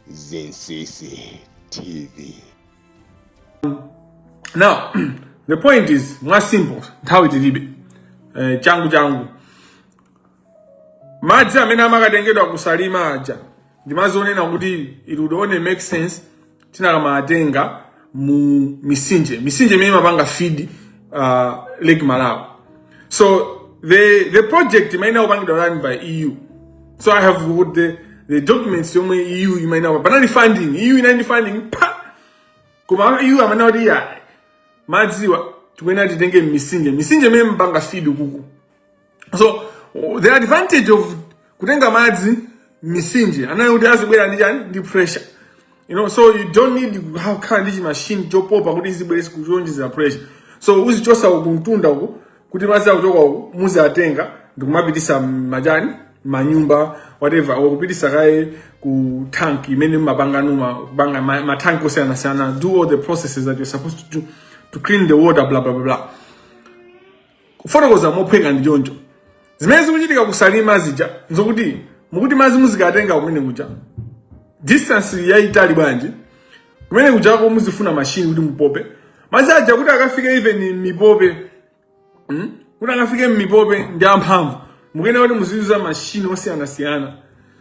Zinsisi TV. Now, the point is mwa simple nthawi tilibe eh, changu changu madzi amene amakatengedwa kusalima aja ndimazinena kuti it would only make sense tinakamaatenga mu misinje misinje imene imapanga feed uh, lake malawi so the the project imayenera kupangidwa run by eu so i have got the, the documents yomwe eu imayenera kupanga funding eu inali ndi funding pa koma eu amanena kuti iya madziwa tikuyenera titenge mmisinje misinje imene imapanga feed kuku so the advantage of kutenga madzi mmisinje anali kuti azibwera ndi chani ndi pressure you know so you don't need kukhala ndi chimashini chopopa kuti izibwere kuonjezera pressure so uzichosa uku mtunda uku kuti madzi akuchoka uku muziatenga ndikumapitisa mujani manyumba whatever kupitisa kaye ku tank imene mumapanga nomwe kupanga ma- matanki osiyanasiyana do all the processes that you're supposed to do to clean the water blah blah blah blah kufotokoza mophweka ndi choncho zimene zikuchitika kusalima zija nzokuti mukuti madzi muzikatenga kumene kuja distance yayitali bwanji kumene kujako muzifuna mashini kuti mupope madzi aja kuti akafike even mipope hmm? kuti akafike mmipope ndi amphamvu mukuyenera kuti muziyuza mashini osiyanasiyana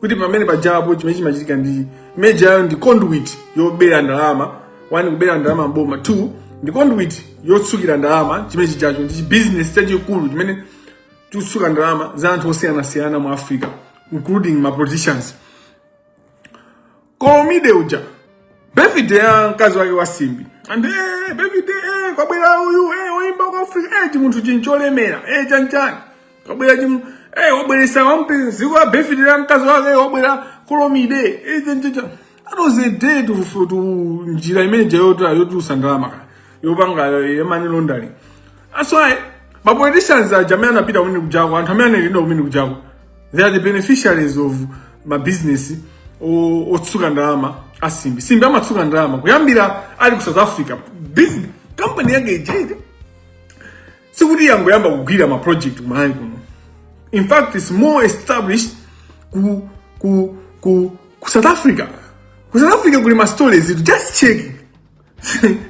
kuti pamene pajapo chimene chimachitika ndi mujamo ndi conduit yobera ndalama one kubera ndalama m'boma two ndi conduit yotsukira ndalama chimene chijacho ndi chibizinesi chachikulu chimene chikutsuka ndalama za anthu osiyanasiyana mu africa including ma politicians kolomide uja bevide ya mkazi wake wa simbi and eh, bevide eh, kwabwera uyu eh, oyimba ku africa eh, chimunthu ncholemera eh, chanchani kwabwera chimu eh, wabweresa wampe ziko ya bevide ya mkazi wake eh, wabwera kolomide eh, chanchacha that was a day to, to njira imene ija yotulusa ndalama kaya yopanga eh, money laundering That's why ma politicians aja amakapita weni kujako and Tamina Linda Winnie Kujago. They are the beneficiaries of ma business otsuka ndalama a Simbi. Simbi amatsuka ndalama kuyambira ali ku South Africa. Business company yake ijadi. Sikuti yangoyamba kugwira ma project kumalawi kuno. In fact, it's more established ku ku ku ku South Africa. Ku South Africa kuli ma stories, just check.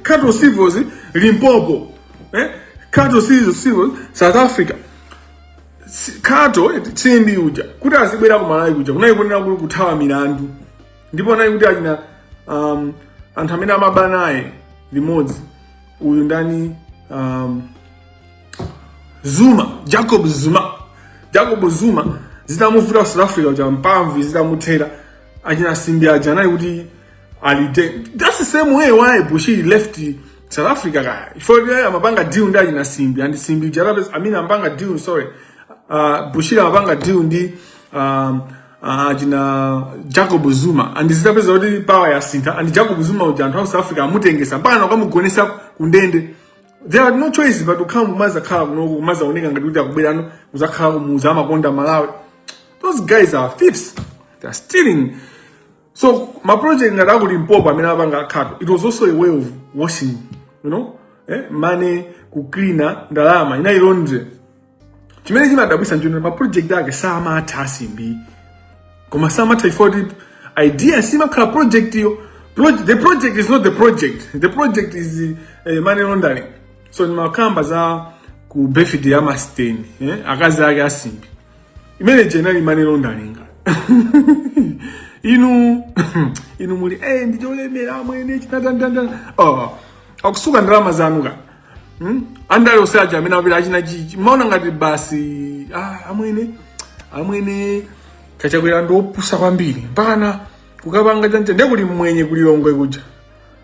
Khato Civils, Limpopo, eh? Khato Civils, South Africa. Khato eh, Simbi uja kuti azibwera ku Malawi kuja kunali kuthawa milandu ndipo anali kuti achina um, anthu amene amaba naye limodzi uyu ndani um, Zuma Jacob Zuma Jacob Zuma zitamuvuta South Africa kuja mpamvu zitamuthera achina Simbi aja anali kuti alite that's the same way why Bushiri left South Africa kaya chifukwa kuti iye amapanga deal ndi achina Simbi and Simbi uja basi amene amapanga deal sorry uh, Bushiri amapanga deal ndi um, uh, achina Jacob Zuma and zitapezeka kuti power yasintha and Jacob Zuma uja anthu a South Africa amutengetsa mpaka nakamugonetsa kundende they had no choice but ukhala mumazakhala kunoku kumazaoneka ngati kuti akubwerano muzakhala kumauza amakonda Malawi those guys are thieves they're stealing so ma project ngati aku Limpopo amene apanga a Khato it was also a way of washing you know eh money kuclean-a ndalama inali laundry chimene chimadabwitsa nchonena ma project ake samatha a Simbi koma samatha chifukwa kuti idea siimakhala project yo Proj- the project is not the project the project is uh, money laundering so ndimakamba za ku birthday ya masiteni eh? akazi ake a Simbi imene ija inali imene londalinga inu inu muli eh ndi cholemera amwene china tantanda oh akusuka ndalama zanu ka hmm? andale onse aja amene apita achina chichi maona ngati basi ah amwene amwene ka Chakwera ndi opusa kwambiri mpakana kukapanga chanje ndiye kuli mmwenye ku Lilongwe kuja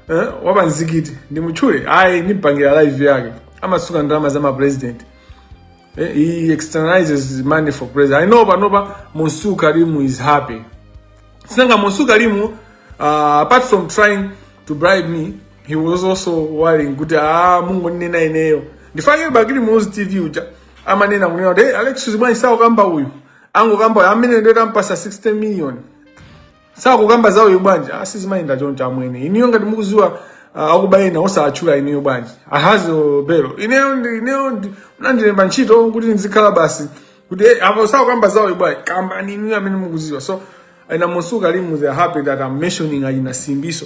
eh wa pa mzikiti ndimutchule ayi ndimpangira live yake amasuka ndalama za ma president Eh, he externalizes money for president. I know panopa Monsu Karimu is happy. Sinanga Monsu Karimu, uh, apart from trying to bribe me, he was also worrying kuti ah mungu nina ineyo. Ndifake bakili muzi TV uja. Ama nina kunena kuti hey, Alex Zibwani sawa kamba uyu. Ango kamba uyu. Amene ndio tampasa 60 million. sakukamba zawoyo bwanji ah sizimayenda ah, choncho amwene inuyo ngati mukudziwa ah, akuba ena osatchula inuyo bwanji ahazo belo ineyo ndi ineyo ndiye munandilemba ntchito kuti ndizikhala basi kuti eh, apo sakukamba zawoyo bwanji kambani inuyo amene mukudziwa so ena mukusangalala they are happy that I'm mentioning achina Simbi so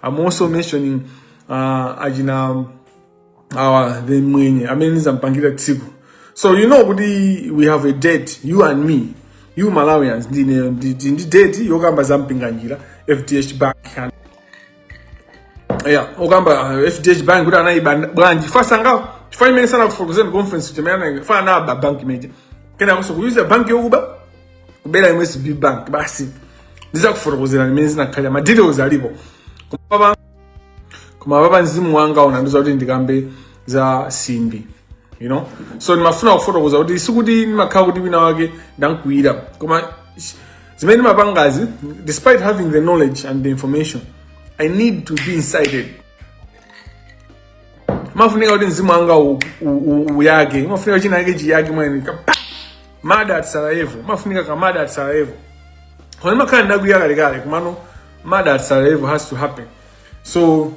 I'm also mentioning uh, achina awa the mwenye amene ndidzampangire tsiku so you know kuti we have a date you and me you Malawians ndi ineyo ndi ndi- ndi date yokamba za Mpinganjira FDH bank and yeah okamba uh, FDH bank kuti anayiba bwanji chifukwa sangawo chifukwa imene sanakufokozeni komanso kuti imene anayi- chifukwa anaba bank imene ija kenakonso kuyuza bank yokuba kubera MSB bank basi ndidzakufotokozerani mmene zinakhalira ma details alipo Koma koma apapa mzimu wanga unandiuza kuti ndikambe za simbi you know so ndimafuna kufotokoza kuti sikuti ndimakhala kuti wina wake ndankwiyira koma sh- zimene ndimapangazi despite having the knowledge and the information i need to be incited mafunika kuti mzimu wanga u- u- u- uyake mafunika china yake chiyake mwina kapena murder at sarajevo mafunika kamurder at sarajevo koma ndimakhala ndakwiya kalekale kumano murder at Sarajevo has to happen so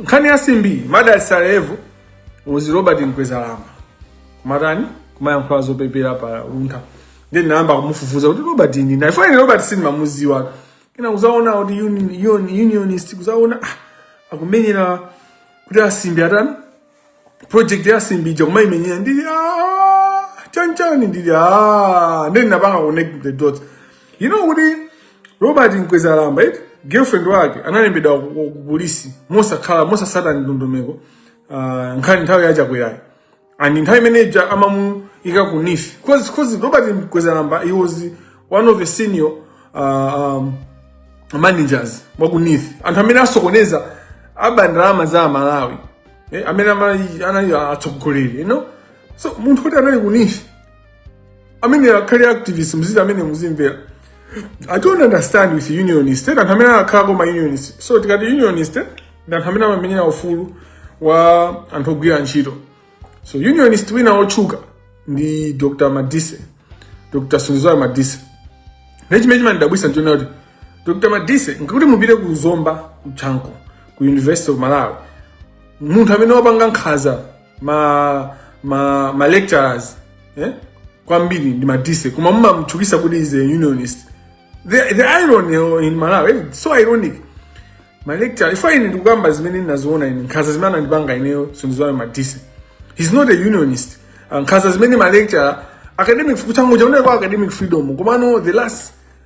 nkhani ya simbi murder at Sarajevo was Robert Mkwezalamba kumatani kumayankhula zopepera pa luntha then nayamba kumufufuza kuti Robert ndi ndani ifeyo Robert sindimamuziwa kena kuzaona kuti union, unionist kuzaona ah, akumenyera kuti asimbi atani project ya simbi ija kumaimenyera ndili "Ah, chanchani ndili "Ah." ndeni napanga connect the dots you know kuti robert mkwezalamba eti girlfriend wake analembedwa ku- ku- ku polisi mosakhala mosasata ndondomeko ah, nkhani nthawi yachakwerayo and nthawi imene ija amamuyika ku neef cause cause robert mkwezalamba he was one of the senior uh, um, managers wakuneef anthu amene asokoneza aba ndalama za amalawi eh, amene amali- anali atsogoleri you know so munthu kuti anali kuneef amene akhale activist nziti amene muzimvera i don't understand with unionist eh, anthu amene akhalako ma unionist so tikati unionist eh, ndi anthu amene amamenyera ufulu wa anthu ogwira ntchito so unionist wina wotchuka ndi dr madise dr sunduzwayo madise nde chimene chimandidabwitsa nchonena kuti dr madise mukati mupite ku zomba ku chanco ku university of malawi munthu amene wapanga nkhaza ma ma, ma lecturers eh? kwambiri ndi madise koma mumamtchukitsa kuti he's a unionist the, the irony in malawi eh, it's so ironic ma lecturer ifo ine ndikukamba zimene ndinaziona ine nkhaza zimene anandipanga ineyo sunduzwayo madise he's not a unionist Ah, nkhaza zimene ma lecturer academic kuchanco uja uneko academic freedom komano the last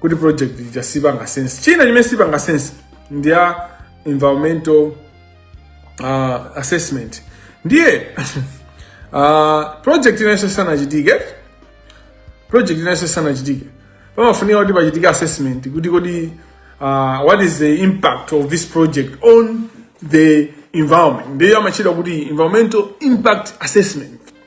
kuti project ija sipanga sense china chimene sipanga sense ndi ya environmental uh, assessment ndiye uh, project ina yonse isanachitike project ina yonse isanachitike pamafunika kuti pachitike assessment kuti kodi uh, what is the impact of this project on the environment ndiyo imatchedwa kuti environmental impact assessment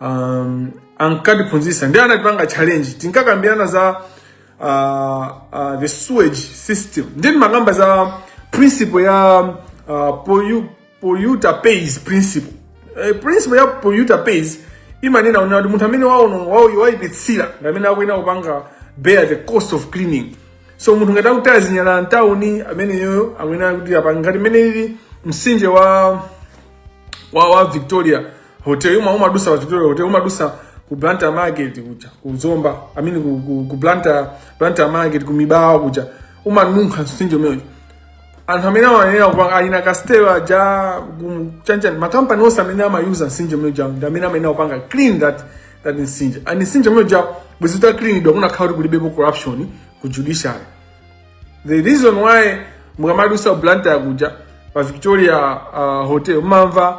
um, ankatiphunzitsa ndi anatipanga challenge tinkakambirana za uh, uh, the sewage system ndiye timakamba za principle ya uh, pollu- polluter pays principle Eh, principle ya polluter pays imanena kuti munthu amene waono- wao- waipitsira ndi amene akuyenera kupanga bear the cost of cleaning so munthu ngati akutaya zinyalala mtawuni ameneyo akuyenera kuti apange ngati mmene ili mtsinje wa wa, wa victoria hotel uja umadutsa wa victoria hotel umadutsa ku Blantyre market kuja ku Zomba I mean ku, ku, ku Blantyre Blantyre market ku Mibawa kuja umanunkha mtsinje umene uja anthu amene amayenera kupanga clean a castel aja chanchani makampani onse amene amayuza mtsinje umene uja ndi amene amayenera kupanga clean that that mtsinje and mtsinje umene uja bwenzi uta cleanidwa kunakakhala kuti kulibepo corruption ku judiciary the reason why mukamadutsa Blantyre kuja pa Victoria uh, hotel mumamva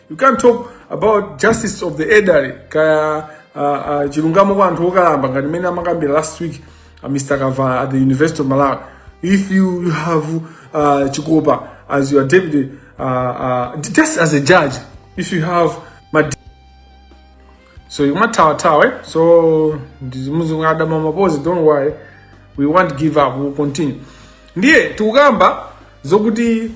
You can't talk about justice of the elderly kaya uh, uh, chilungamo kwa anthu okalamba ngati mmene amakambira last week uh, Mr. Kavala at the University of Malawi. If you, you have uh, Chikopa as your deputy, uh, uh, just as a judge, if you have my so you might tower tower. So this Muslim Adam Mamapozi, don't worry, we won't give up, we'll continue. Ndiye tukamba zokuti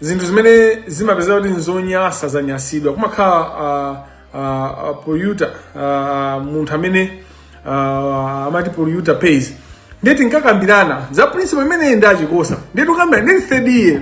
zinthu zimene zimapezeka kuti nzonyasa zanyasidwa kumakhala uh, uh, uh, polluter uh, munthu amene uh, amati polluter pays ndiye tinkakambirana za principle imeneyi ndi a chikosa ndiye tikukamba ndili third year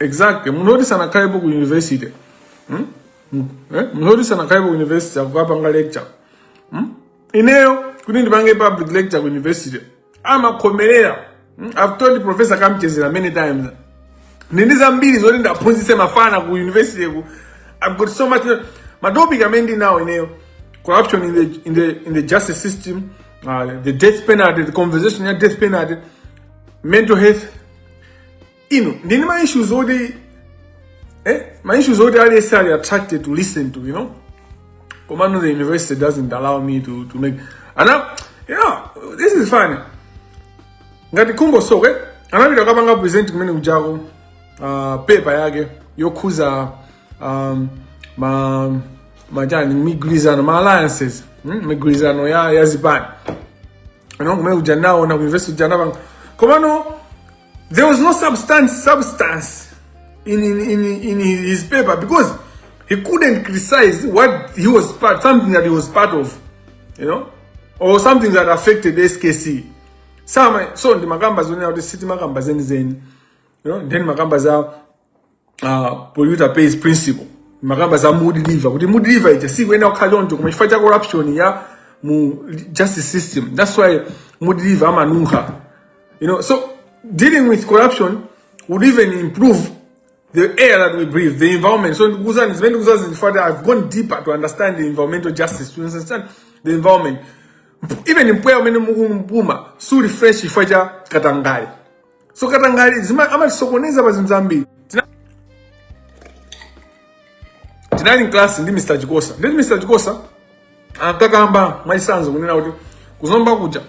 exactly munthu oti sanakhalepo ku university hmm? Hmm? Eh? munthu oti sanakhalepo ku university akukapanga lecture hmm? ineyo kuti ndipange public lecture ku university amakhomerera hmm? i've told professor kamchedzera many times ndili ndi zambiri zoti ndikaphunzitse mafana ku university ku i've got so much matopic amene ndinawo ineyo corruption in the, in the, in the justice system uh, the death penalty the conversation ya death penalty mental health ine ndili ndi ma issues oti eh ma issues oti aliyense ali attracted to listen to you know komano the university doesn't allow me to to make ana yeah this is fine ngati khumbo soko anapita kukapanga present kumene kujako uh, paper yake yokhuza um, ma majani migwirizano ma alliances mm, migwirizano ya, ya zipani pano kumene kuja nayo ku university kuja anapanga komano there was no substance substance in, in, in, in his paper because he couldn't criticize what he was part something that he was part of you know or something that affected skc somehow so ndimakamba zonena kuti sitimakamba zenizeni you know timakamba zawo uh, polluter pays principle timakamba za Mudi river kuti Mudi river ija sikuyenera kukhala choncho koma chifukwa cha corruption ya mu justice system that's why Mudi river amanunkha you know so dealing with corruption would even improve the air that we breathe the environment so ndikuuzani zimene ndikuuzazi chifukwa that i've gone deeper to understand the environmental justice to understand the environment even mpweya umene mukumpuma suli fresh chifukwa cha katangale so katangale zima- amatisokoneza pa zinthu zambiri Tina- tinali mklasi ndi mr chikosa ndi mr chikosa ankakamba mwachisanzo kunena kuti kuzomba kuja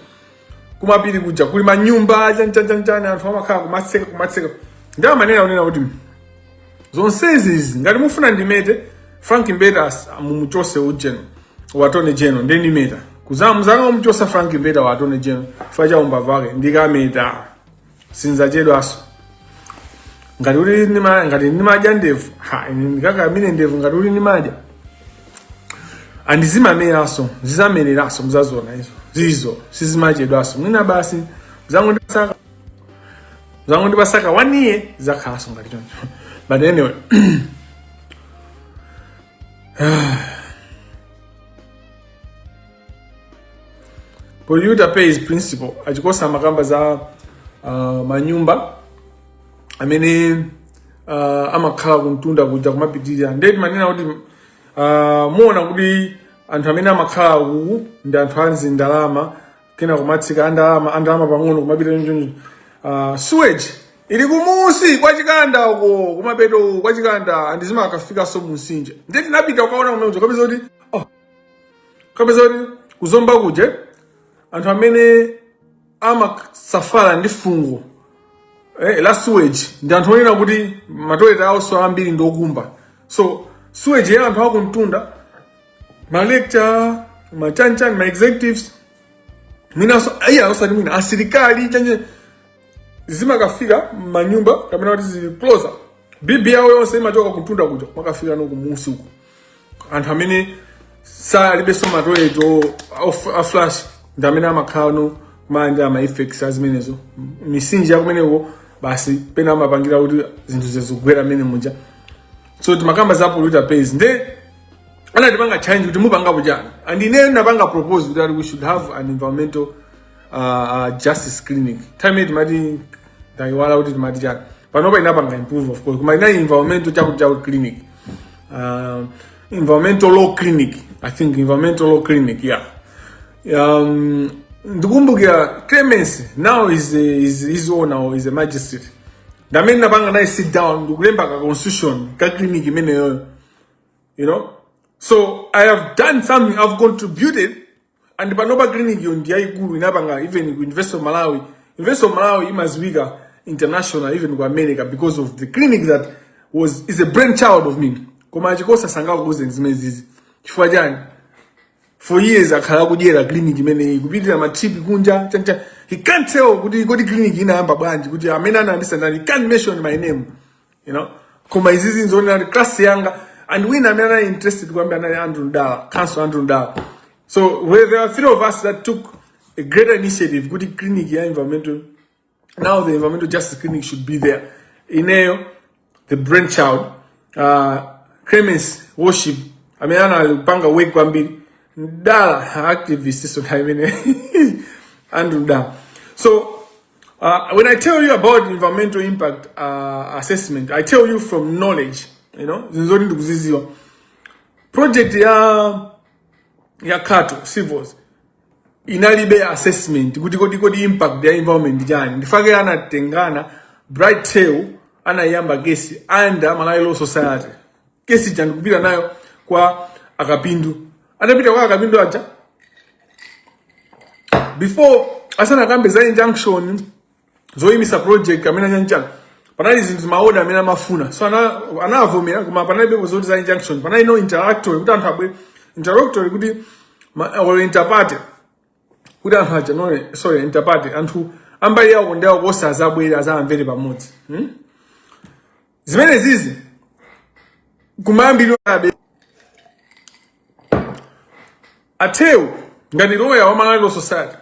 kumapiri kuja kuli manyumba chanchanichani anthu amakhala kumatsika kumatsika ndi amanena kunena kuti zonsezi izi ngati mufuna ndimete frank mbeta as- mumuchotse ujeni wa tony jeno ndi ndimeta kuzama muzanga mumuchotsa frank mbeta wa tony jeno chifukwa cha umbava wake ndikameta sinzachedwaso ngati kuti nima ngati nimadya ndevu ha ine ndikaka mine ndevu ngati kuti nimadya andizimameranso zizamereranso muzazona izo zizo sizimachedwaso mwina basi muzangotasaka zangu ndipasaka waniyi zakhalaso ngati choncho but anyway polluter pays principle achikosa amakamba za uh, manyumba amene uh, amakhala kumtunda kuja kumapitirira nde timanena kuti uh, muona kuti anthu amene amakhala uku ndi anthu azindalama kena kumatsika andalama andalama pang'ono kumapita chonchoo uh, sewage ili kumusi kwa chikanda uko kumapeto kwa chikanda and zimakafikaso mumtsinje ndiye tinapita kukaona kumeneko kapeza kuti oh, kapeza kuti kuzomba kuja anthu amene amasafala ndi fungo eh, la sewage ndi anthu onena kuti matoilet awo so ambiri ndi okumba so sewage ya anthu akumtunda ma lecturer ma chanichani ma executives mwinaso iya osati mwina asilikali chanje zimakafika manyumba kapena kuti zikloza bibi yawo yonse imachoka kuntunda kuja imakafikano kumusi uko anthu amene alibenso matoilet a flush ndi amene amakhalano kumanja ama effects azimenezo misinji yakumeneko basi pena amapangira kuti zinthu zizigwera mmene muja so timakamba za polluter pays nde anatipanga challenge kuti mupangapo chani and ineyo ndapanga propose kuti ayi we should have an environmental uh, uh, justice clinic time yet mati ndayiwala kuti timati chani panopa inapanga improve of course koma inali environmental chakuti chakuti clinic uh, environmental law clinic i think environmental law clinic yeah um, ndikumbukira clemence now is, is, his honour is a magistrate ndamene napanga naye sit down ndikulemba ka constitution ka clinic imeneyoyo you know so i have done something i've contributed and panopa clinic yo ndiyaikulu inapanga even ku university of malawi university of malawi imaziwika international even ku america because of the clinic that was is a brain child of me koma a chikosa sangakuuzeni zimenezizi chifukwa chani for years akhala akudyera clinic imeneyi kupitira matrip kunja chanichani he can't tell kuti kodi clinic inayamba bwanji kuti amene anayambisa ndani he can't mention my name you know koma izizi nzoonera kuti class yanga and wina amene anali interested kwambiri anali andrew mdala counsel andrew mdala so where there were three of us that took a greater initiative kuti clinic ya environmental now the environmental justice clinic should be there ineyo the brain child uh, clemence worship amene anali kupanga work kwambiri mdala activist so time ine andrew mdala so Uh, when I tell you about environmental impact uh, assessment, I tell you from knowledge, you know, zinthu zoti ndikuziziwa. Project ya ya Khato Civils inalibe assessment kuti kodi kodi impact ya environment chani. Ndichifukwa chake anatengana Bright Theu anayamba kesi under Malawi Law Society. Kesi ija nkupita nayo kwa a Kapindu. Anapita kwa a Kapindu aja before asanakambe za injunction zoyimisa project amene chanichani panali zinthu maoda amene amafuna so ana- anavomera koma panalibepo zoti za injunction panali no interlocutory kuti anthu abwere interlocutory kuti ma- or interparty kuti anthu aja no sorry interparty anthu a mbali yawo ndi awo kosa azabwere azamvere pamodzi hmm? zimenezizi kumayambiriro abe a Theu ngati loya wa Malawi Law Society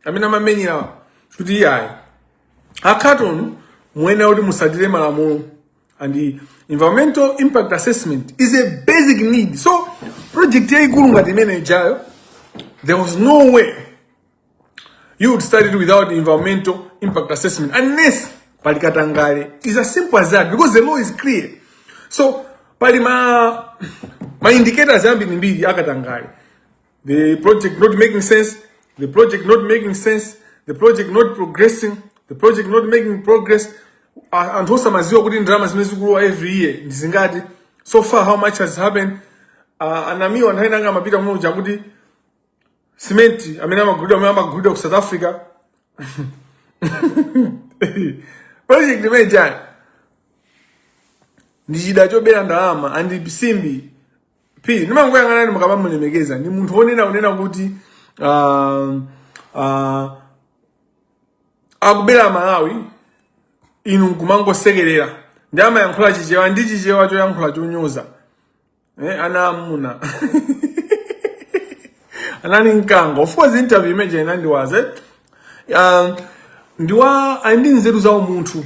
amene amamenyera kuti iyayi a Khato muyenera kuti musatire malamulo and the environmental impact assessment is a basic need so project yayikulu ngati imene ijayo there was no way you would start it without environmental impact assessment unless pali katangale is as simple as that because the law is clear so pali ma ma indicators ambirimbiri a katangale the project not making sense the project not making sense the project not progressing the project not making progress A- anthu osamaziwa kuti ndalama zimene zikulowa every year ndi zingati so far how much has happened uh, anamiwa nthawi nanga amapita muja kuti simenti amene amagulidwa amene amagulidwa ku south africa project imene ija ndi chida chobera ndalama and simbi p ndimangoyang'anani mukamamulemekeza ndi munthu onena unena kuti uh, uh, akubera malawi inu nkumangosekerera ndi amayankhula chichewa ndi chichewa choyankhula chonyoza eh, ana amuna anali mkango of course interview imene inandiwaza uh, um, ndiwa ali ndi nzeru za umunthu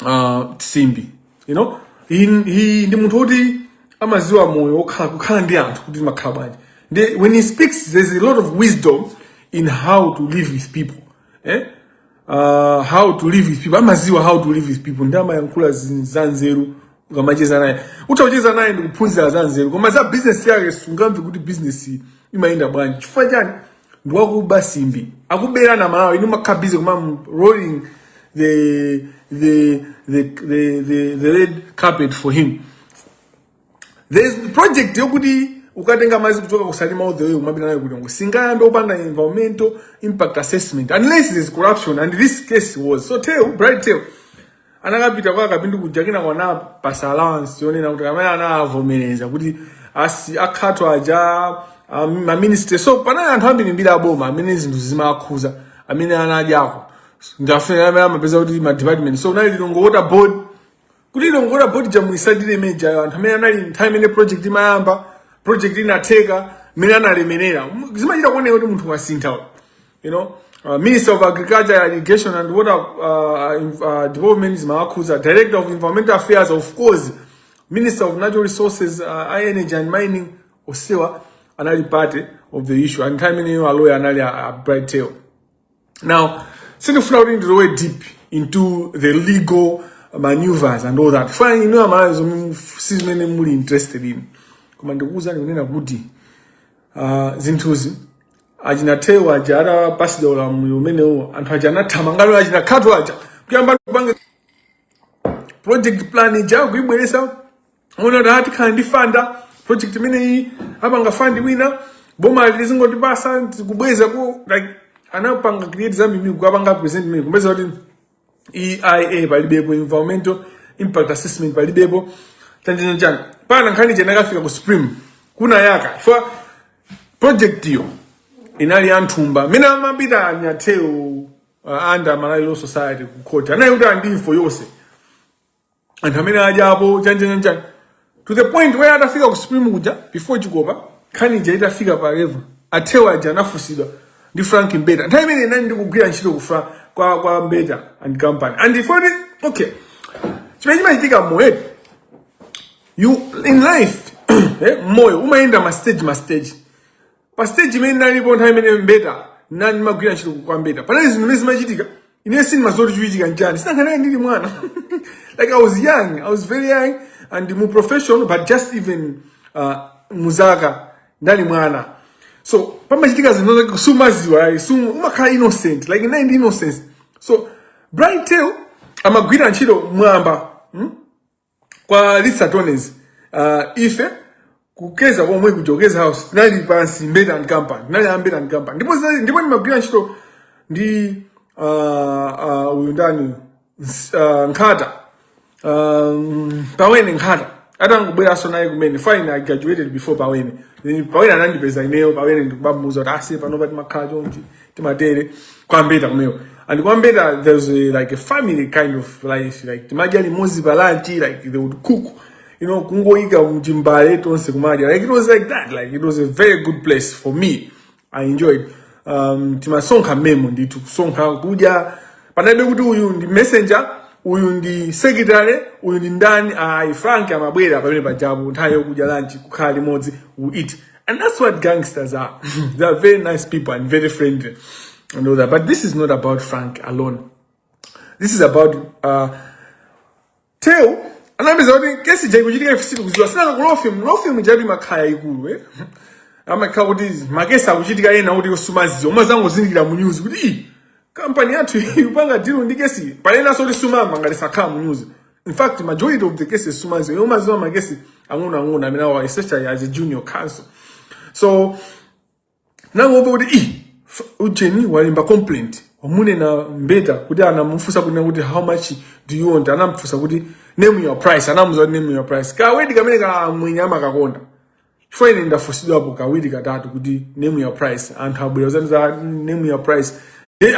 uh, simbi you know he, he ndi munthu woti amaziwa moyo okhala kukhala ndi anthu kuti makhala bwanji ndi when he speaks there's a lot of wisdom in how to live with people eh? uh, how to live with people amaziwa how to live with people ndi amayankhula zin- za nzeru ukamacheza naye utha kucheza naye ndi kuphunzira za nzeru koma za business yake sungamve kuti business iyi imayenda bwanji chifukwa chani ndi wakuba simbi akuberani amalawi inu mumakhala busy kuma mu- rolling the the the the, the, the red carpet for him there is project yokuti ukatenga madzi kuchoka ku salima all the way kumapita nawo ku lilongwe singayambe kupanga environmental impact assessment unless there is corruption and this case was so theu bright theu anakapita kwa kapindu kuja kenako anapasa allowance yonena kuti kamene anavomereza kuti asi akhato aja um, ma minister so panali anthu ambirimbiri aboma amene zinthu zimakhuza amene anadyako ndafuna amene amapeza kuti ma department so kunali lilongwe water board kuti lilongwe water board ija muisatire imene ijayo anthu amene anali nthawi imene project imayamba project inatheka mmene analemerera M- zimachita kuoneka kuti munthu wasintha uyu. you know uh, minister of agriculture irrigation and water uh, in- uh, development zimawakhuza director of environmental affairs of course minister of natural resources uh, energy and mining onsewa anali part of the issue and nthawi imeneyo aloya anali a, a bright theu now sindifuna kuti ndilowe deep into the legal maneuvers and all that chifukwa inu amalawi zomwe si zimene muli interested in koma ndikuwuzani kunena kuti uh, zinthuzi achina theu aja atapasidwa ulamuliro umenewo anthu aja anathamanga nawo achina khato aja kuyamba kupanga project plan ija kuibweresa muona da tikhala ndi funder project imeneyi apanga fund wina boma lizingotipasa kubweza ku like anapanga create za mimi kupanga present mimi kumeza kuti EIA palibepo environmental impact assessment palibepo tanjani chani pana nkhani chena kafika ku supreme kuja project yo inali ya nthumba mene amapita anya Teo uh, under malawi law society ku court anayikuta info yonse anthu amene adyapo chanjanjanjani to the point where atafika ku supreme kuja before chikopa nkhani ija itafika pa level athewa aja anafunsidwa ndi frank mbeta nthawi imene inali ndikugwira ntchito ku Fra- kwa, kwa mbeta and company and if only okay chimene chimachitika moyo you in life eh, moyo umayenda ma stage ma stage pa stage imene ndinalipo nthawi imene mbeta nani magwira ntchito kwa mbeta panali zinthu zimene zimachitika ine sindimadziwa kuti chikuchitika nchani sinakanaye ndili mwana like i was young i was very young and mu profession but just even uh, muzaka ndali mwana so pamachitika zinthu zake sumadziwa ayi sumu umakhala innocent like naive ndi innocence so Bright Theu amagwira ntchito mwamba hmm? kwa lisatones uh, ife ku Keza komwe ku Keza House tinali pansi Mbeta and Company tinali a Mbeta and Company ndipo zinali- ndipo ndimagwira ntchito ndi uh, uh, uyu ndani Ns- uh, Nkhata um, Pawene Nkhata atangobweranso naye kumene then I graduated before Pawene Then Pawene anandipeza ineyo Pawene ndikubamuza kuti asiye pano pati timakhala chonchi timatere kwa Mbeta kumeneko and kwa Mbeta there's a, like a family kind of life like timadya limodzi pa lunch like they would cook you know kungoyika m'chimbale tonse kumadya like it was like that like it was a very good place for me i enjoyed um, timasonkha mmemo ndithu kusonkha kudya panalibe kuti uyu ndi messenger uyu ndi secretary uyu ndi ndani ayi frank amabwera pamene pajapo nthawi yokudya lunch kukhala limodzi we eat And that's what gangsters are. they are very nice people and very friendly and all that. But this is not about Frank alone. This is about uh, Teo. anapeza kuti kesi ija ikuchitika ife sitikudziwa tinali ku law firm law firm ija imakhala yaikulu eh imakhala kuti makesi akuchitika ena oti sumadziwa umazangozindikira mu news kuti ii kampani yathu ikupanga deal ndi kesi penanso kuti sumamva ngati sakhala mu news in fact majority of the cases sumadziwa iwe umadziwa makesi ang'onoang'ono amene awa especially as a junior counsel so ndinangomva kuti i ujeni walemba complaint wamunena mbeta kuti anamufunsa kunena kuti how much do you want anamufunsa kuti name your price anamuuza kuti name your price kawedi kamene ka amwenye amakakonda chifukwa ine ndafunsidwapo kawiri katatu kuti name your price anthu abwera adzanena za name your price Ndiye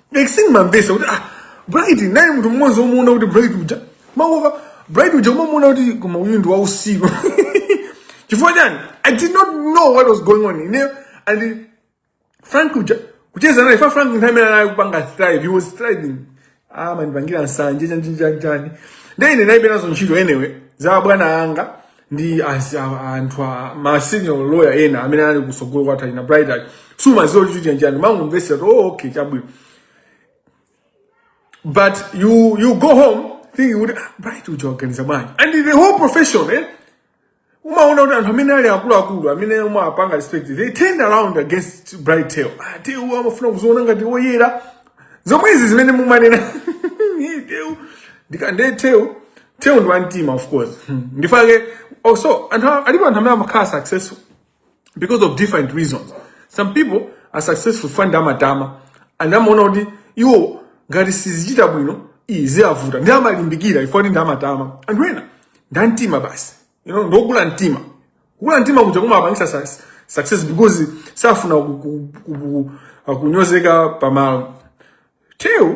Maxine mumamvetsa kuti ah Bright naye munthu mmodzi womuona kuti Bright uja mawoka Bright uja umamuona kuti koma uyu ndi wausiku chifukwa chani I did not know what was going on ineyo and Frank uja kucheza naye ifo Frank nthawi imene anali kupanga thrive he was thriving ah mandipangira nsanje chanjinjanjani ndine naye penazo ntchito anyway za bwana anga ndi anzi a- anthu a ma senior lawyer ena amene anali kusogolo kwa Talina Brighton sumaziwa kuti chiti chani umangomvesa kuti oh okay chabwino but you you go home thinking kuti "Ah, bright uja akuganiza bwanji and the whole profession eh umaona kuti anthu amene ali akuluakulu amene umawapanga respect they turned around against bright Teo ah Teo amafuna kuziona ngati woyera zomwezi zimene mumanena Teo ndikande Teo Teo ndi wa mtima of course. Hmm. Ndiye alipo anthu alipo anthu amene amakhala successful because of different reasons. Some people are successful ifo ndi amatama and amaona kuti iwo ngati sizichita bwino ziwavuta ndi amalimbikira ifo ndi amatama anthu ena ndi a mtima basi you know ndokula mtima kula mtima kuja kumawapangisa success, success because safuna ku- ku- ku- ku- kunyozeka pamalo teo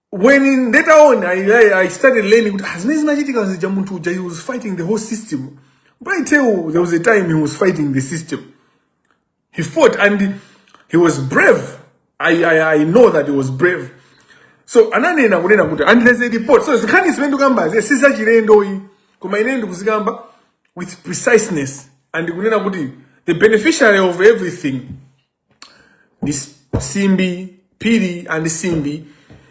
when in later on I, I, I started learning kuti ah zimene zinachitika zija munthu uja he was fighting the whole system but Teo there was a time he was fighting the system he fought and he was brave I, I, I know that he was brave so ananena kunena kuti and there's a report so zinkhani zimene ndikukambazi si zachilendo ayi koma ine ndikuzikamba with preciseness and kunena kuti the beneficiary of everything ndi simbi phiri and simbi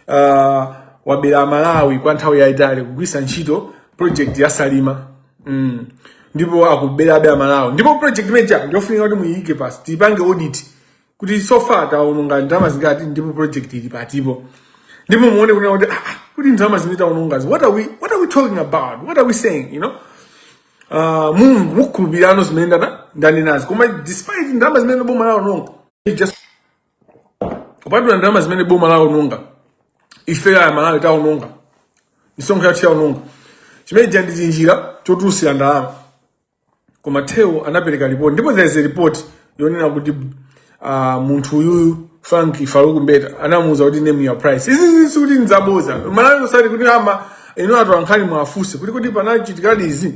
uh, wabera amalawi kwa nthawi yayitali kugwirisa ntchito project ya salima mm. ndipo akuberabe amalawi ndipo project imeja ndiyofunika kuti muyike pansi tiyipange audit kuti so far taononga ndalama zingati ndipo project ili pati po ndipo muone kunena kuti ah, ah, kuti ndalama zimene taonongazi what are we what are we talking about what are we saying you know uh, mwina mukhulupirano zimene ndana ndanenazi koma despite ndalama zimene boma lawononga just kupatula ndalama zimene boma lawononga ife aMalawi tawononga misonkho yathu yawononga chimene chija ndi tinjira chotulusira ndalama koma Teo anapereka report ndipo there is a report yonena kuti uh, munthu uyuyu Frank Farouk Mbeta anamuuza kuti name your price. Izi izi sikuti nzaboza. Malawi usati kuti ama inu anthu ankhani muwafunse kuti kuti panachitikadi izi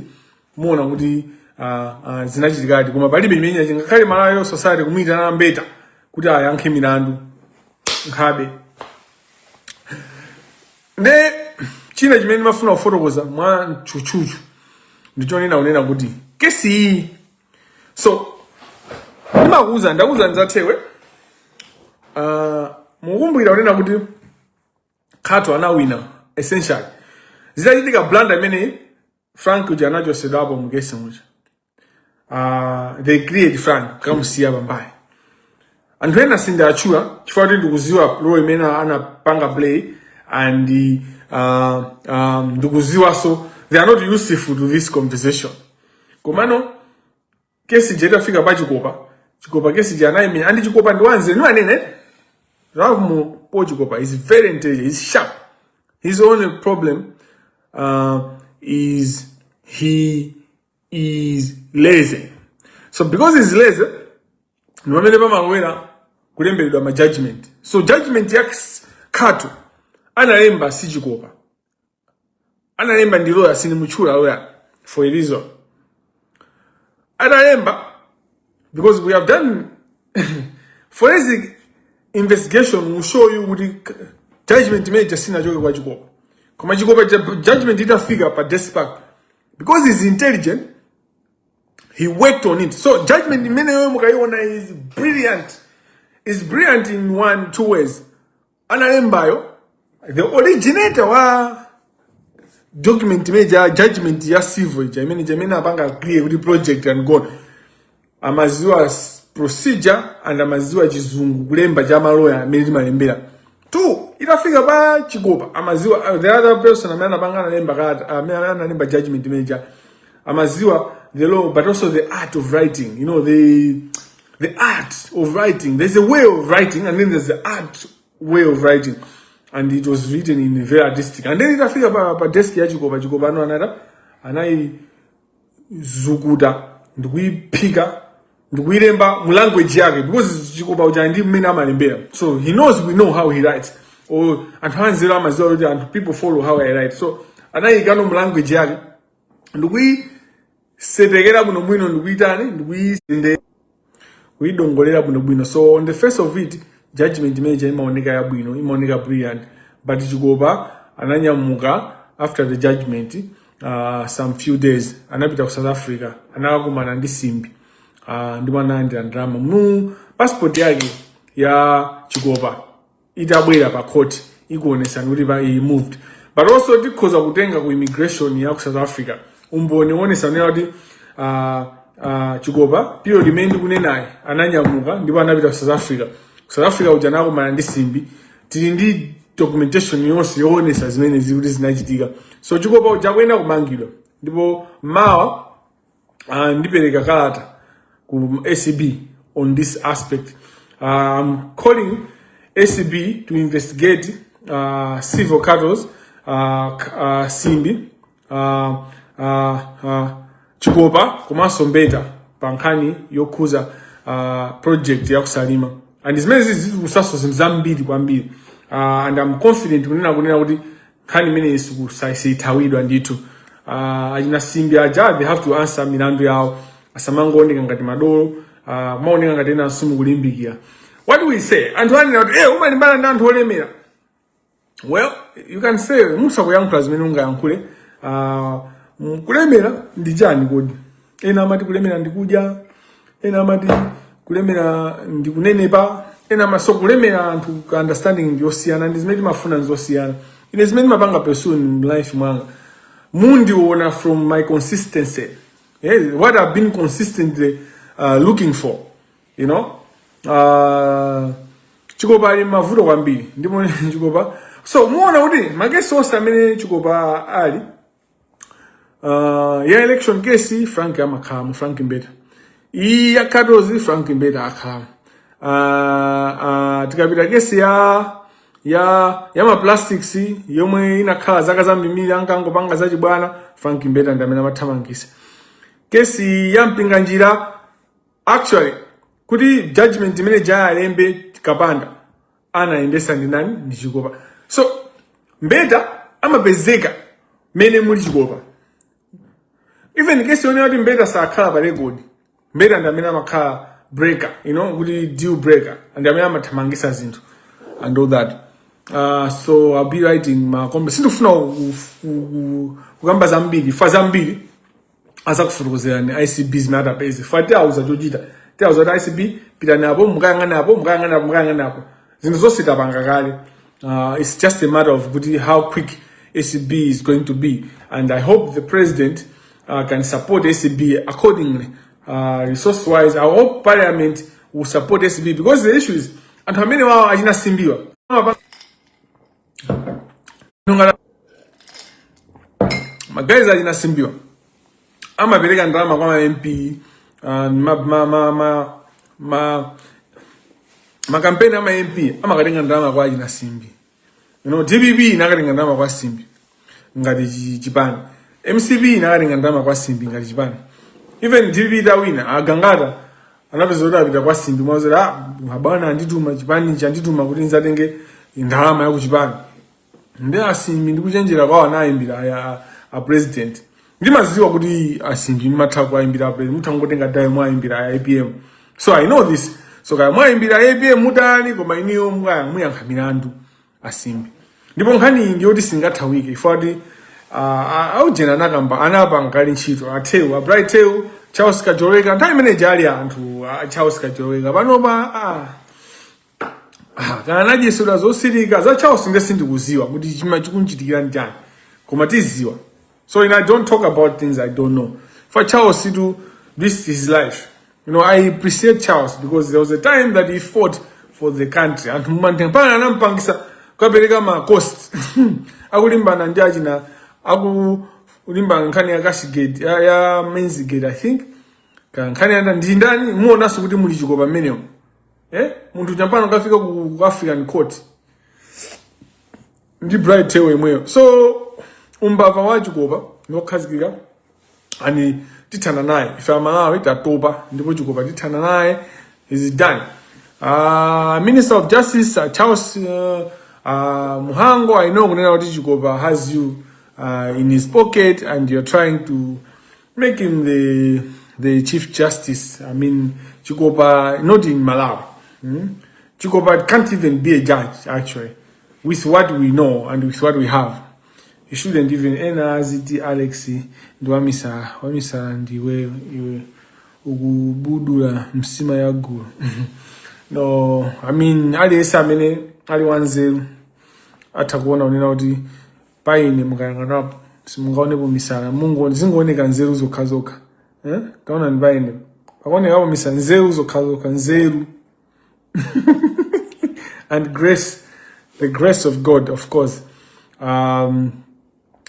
muona kuti uh, uh, zinachitikadi koma palibe imene ingakhale Malawi Law Society kumuyitana Mbeta kuti ayankhe milandu nkhabe. Nde china chimene mafuna kufotokoza mwa tchutchutchu ndichonena kunena kuti kesi iyi so ndimakuuza ndakuuza ndidzathewe uh, mukumbukira kunena kuti khato anawina essentially zitachitika blunder imene frank uja anachosedwapo mu case muja uh, they create frank kamusiya pambali anthu ena sindiatchula chifukwa kuti ndikuziwa role imene anapanga play and uh, um, ndikuziwanso they are not useful to this conversation komano kesi ija itafika pa chikopa chikopa kesi je anayimenya andi chikopa ndi wanzeru niwo anene ralph mu po chikopa he's very intelligent he's sharp his only problem uh, is he is lazy so because he's lazy ndi pamene pamalowera kulemberedwa ma judgment so judgment ya khato analemba si chikopa analemba ndi loya sindimutchula loya for a reason analemba because we have done forensic investigation will show you kuti k- judgment imene ija sinachoke kwa chikopa koma chikopa ju- judgment itafika pa desk pake because he's intelligent he worked on it so judgment imene ija mukayiona it's brilliant it's brilliant in one two ways analembayo the originator wa document imene ija judgment ya civil ija imene ija imene apanga agree kuti project and gone amaziwa s- procedure and amaziwa chizungu kulemba cha maloya amene timalembera two itafika pa chikopa amaziwa uh, the other person amene anapanga analemba kata amene analemba judgment imene ija amaziwa the law but also the art of writing you know the The art of writing. There's a way of writing and then there's the art way of writing. And it was written in a very artistic. And then itafika pa, pa desk ya Chikopa, Chikopa ano anada, anaizukuta, ndikuiphika, ndikuilemba mu language yake. Because Chikopa uja ndi mmene amalembera. So he knows we know how he writes. Or anthu anzeru amaziwa kuti anthu people follow how I write. So anayiikano mu language yake. ndikuyisetekera bwino bwino ndikuyitani ndikuyisende kuyidongolera bwino bwino so on the face of it judgment imene ija imaoneka yabwino imaoneka brilliant but chikopa ananyamuka after the judgment uh, some few days anapita ku south africa anakakumana ndi simbi uh, ndi mwana analandira ndalama mu passport yake ya chikopa itabwera pa court ikuonesani kuti pa he moved but also tikhoza kutenga ku immigration ya ku south africa umboni woonesa kuti uh, uh, chikopa period imene ndikunenayi ananyamuka ndipo anapita ku south africa ku south africa uja anakumana ndi simbi tili ndi documentation yonse yoonesa zimenezi kuti zinachitika so chikopa uja akuyenera kumangidwa ndipo mawa uh, ndipereka kalata ku acb on this aspect uh, i'm calling acb to investigate uh, several cartels uh, k- uh, simbi uh, uh, uh, chikopa komanso mbeta pa nkhani yokhuza uh, project ya kusalima and zimene zizikhuzaso zinthu zambiri kwambiri uh, and i'm confident kunena kunena kuti nkhani imeneyi siizithawidwa ndithu uh, achina simbi aja they have to answer milandu yawo asamangooneka ngati madolo uh, mwaoneka ngati ena asumu kulimbikira what do we say anthu akunena kuti eh umalimbana ndi anthu olemera well you can say musakuyankhula zimene ungayankhule uh, kulemera ndi chani kodi ena amati kulemera ndi kudya ena amati kulemera ndi kunenepa ena amatiso kulemera anthu ka understanding ndi yosiyana ndi zimene timafuna nzosiyana ine zimene ndimapanga pursue in life mwanga mundiona from my consistency yes, what i've been consistently uh, looking for you know uh, chikopa ali mavuto kwambiri ndipo chikopa so muona kuti makesi onse amene chikopa ali uh, ya election case frank amakhalamo frank mbeta iyi ya katozi frank mbeta akhalamo uh, uh, tikapita kesi ya ya ya ma plastics yomwe inakhala zaka zambiri ankangopanga zachibwana frank mbeta ndi amene amathamangisa kesi ya mpinganjira actually kuti judgment imene ija alembe kapanda anayendesa ndi nani ndi chikopa so mbeta amapezeka mene muli chikopa even kesi yonena kuti mbeta sakhala pa record mbeta ndi amene amakhala broker you know kuti deal breaker ndi amene amathamangisa zinthu and all that uh, so i'll be writing ma comments sindifuna ku- ku- ku- kukamba zambiri chifukwa zambiri azakufotokozerani acb zimene atapeze chifukwa tiauza chochita tiauza kuti acb pitani apo mukayang'ana apo mukayang'ana apo mukayang'ana apo zinthu zonse tapanga kale uh, it's just a matter of kuti how quick acb is going to be and i hope the president uh, can support acb accordingly uh, resource wise i hope parliament will support acb because the issue is anthu amenewawo achina simbiwa magaizi achina simbiwa amapereka ndalama kwa ma mp makampeni a ma mp amakatenga ndalama kwa achina simbi you know, dpp imakatenga ndalama kwa simbi ngati chipani mcp inakatenga ndalama kwa Simbi ngati chipani even dpp itawina a Gangata anapeza kuti apita kwa Simbi mwakuti ah abwana andituma chipani ichi andituma kuti ndizatenge ndalama ya kuchipani ndi asimbi ndi kuchenjera kwawo anayimbira aya a- a president ndimaziwa kuti asimbi ndimatha kuwayimbira a president mutha kungotenga dayo mwayimbira aya apm so i know this so kaya mwayimbira apm mutani koma iniyo mukaya muyankha milandu asimbi ndipo nkhani iyi ndi yoti singathawike ife a ujeni anakamba anampaka ali ntchito a Theu a Bright Theu charles kajoloweka nthawi imene ija ali anthu a charles kajoloweka panopa ah, ah, kana anadyesera zosirika za charles nde sindikuziwa kuti chimene chikumuchitikira nchani koma tiziwa So you know, I don't talk about things I don't know. For Charles, it's is his life. You know, I appreciate Charles because there was a time that he fought for the country. And a Mutharika anampangitsa kukapereka ma cost. Akulimbana ndi achina akulimbana nkhani ya cash gate ya, ya maize gate I think. Ka nkhani yanda ndi ndani muonaso kuti muli Chikopa ameneyo. Eh? Munthu mpaka pano akafika ku African court. ndi Bright Theu yemweyo so umbava wa Chikopa ndi wokhazikika ani tithana naye ife amalawi tatopa ndipo chikopa tithana naye is done uh, minister of justice uh, charles uh, uh, Mhango i know kunena kuti chikopa has you uh, in his pocket and you're trying to make him the, the chief justice i mean chikopa not in malawi hmm? chikopa can't even be a judge actually with what we know and with what we have you shouldn't even ena aziti alex ndi wamisala, wamisala ndiwe iwe ukubudula nsima ya gulu no i mean aliyense amene ali wanzeru atha kuona kunena kuti pa ine mukayang'anapo simungaonepo misala mungo- zingooneka nzeru zokhazokha eh? kaonani pa ine pakuonekapo misala nzeru zokhazokha nzeru and grace, the grace of God, of course. Um,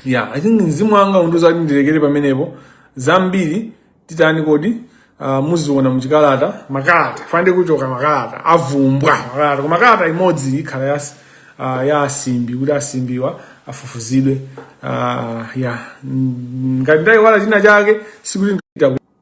yeah, I think mzimu wanga ukundiuza kuti ndirekere pamenepo zambiri titani kodi uh, muziona muchikalata makalata Friday kuchoka makalata avumbwa makalata koma kalata imodzi ikhala ya, uh, ya asimbi kuti asimbiwa afufuzidwe uh, ya ngati ndayiwala china chake sikuti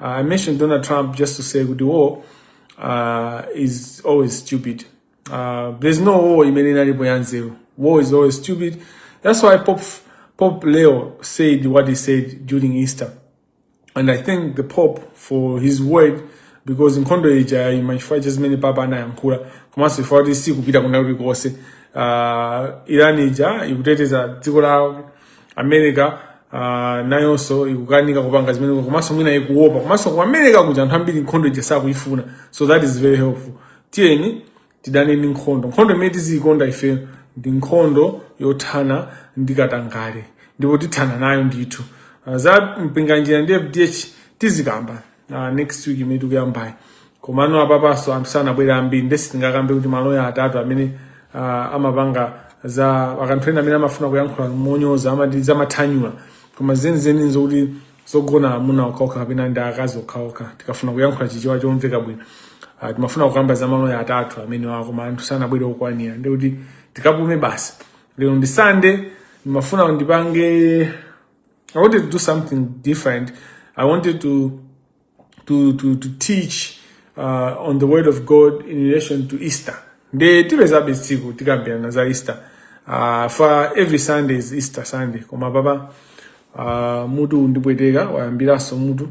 I mentioned Donald Trump just to say kuti war uh, is always stupid. Uh, there's no war imene inalipo ya nzeru. War is always stupid. That's why Pope, Pope Leo said what he said during Easter. And I thank the Pope for his word because nkhondo ija yaima chifukwa cha zimene papa anayankhula komanso chifukwa choti sikupita kuna kulikonse uh, irani ija ikuteteza dziko lawo america uh, nayonso ikukanika kupanga zimene komanso mwina ikuopa komanso ku america kuja anthu ambiri nkhondo ija sakuyifuna so that is very helpful tiyeni tidane ndi nkhondo nkhondo imene tiziyikonda ife ndi nkhondo yothana ndi katangale ndipo tithana nayo ndithu uh, za mpinganjira ndi fdh tizikamba uh, next week imene tikuyambayi komano apapaso anthu sanabwere ambiri nde sitingakambe kuti maloya atatu amene uh, amapanga za kuti anthu ena amene amafuna kuyankhula monyoza amati zamathanyula koma zenizeni nzokuti zogona amuna okhaokha kapena ndi akazi okhaokha tikafuna kuyankhula chichewa chomveka bwino uh, timafuna kukamba za maloya atatu amene wa koma anthu sanabwere okwanira ndekuti tikapume basi lero ndi sande ndimafuna ndipange I wanted to do something different. I wanted to to to, to teach uh, on the word of God in relation to Easter. Nde tipezabe tsiku tikambirana za Easter. Uh, for every Sunday is Easter Sunday. Koma baba uh, mutu ukundipweteka wayambiranso mutu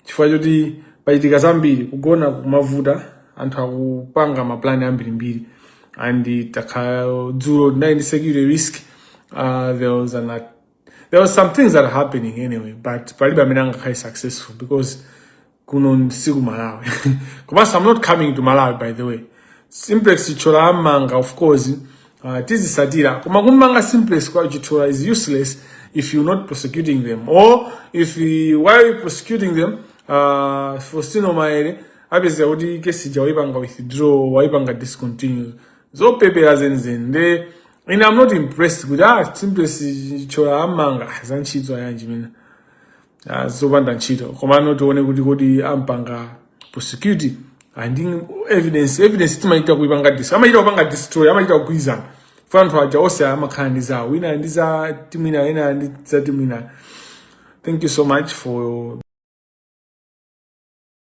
chifukwa choti pachitika zambiri kugona kukuvuta anthu akupanga maplani ambirimbiri ndikhala dzulo ndinali ndi security risk uh, there was an there was some things that are happening anyway but palibe amene angakhale successful because kuno si ku malawi komanso i'm not coming to malawi by the way simplex chithyola ammanga of course uh, tizisatira koma kummanga simplex chithyola is useless if you're not prosecuting them or if you, while you're prosecuting them uh, fostino maele upeza kuti kesi ja waipanga withdraw waipanga discontinue zopepera zenizeni nde and i'm not impressed kuti ah simplex chithyola ammanga za ntchito yanji mwina ah, zopanda ntchito komano tione kuti kodi ampanga prosecute and evidence evidence amachita kuipanga dis amachita kupanga destroy amachita kugwirizana ifa anthu aja onse amakhala ndi zawo wina ndi za timu ina wina ndi za timu ina thank you so much for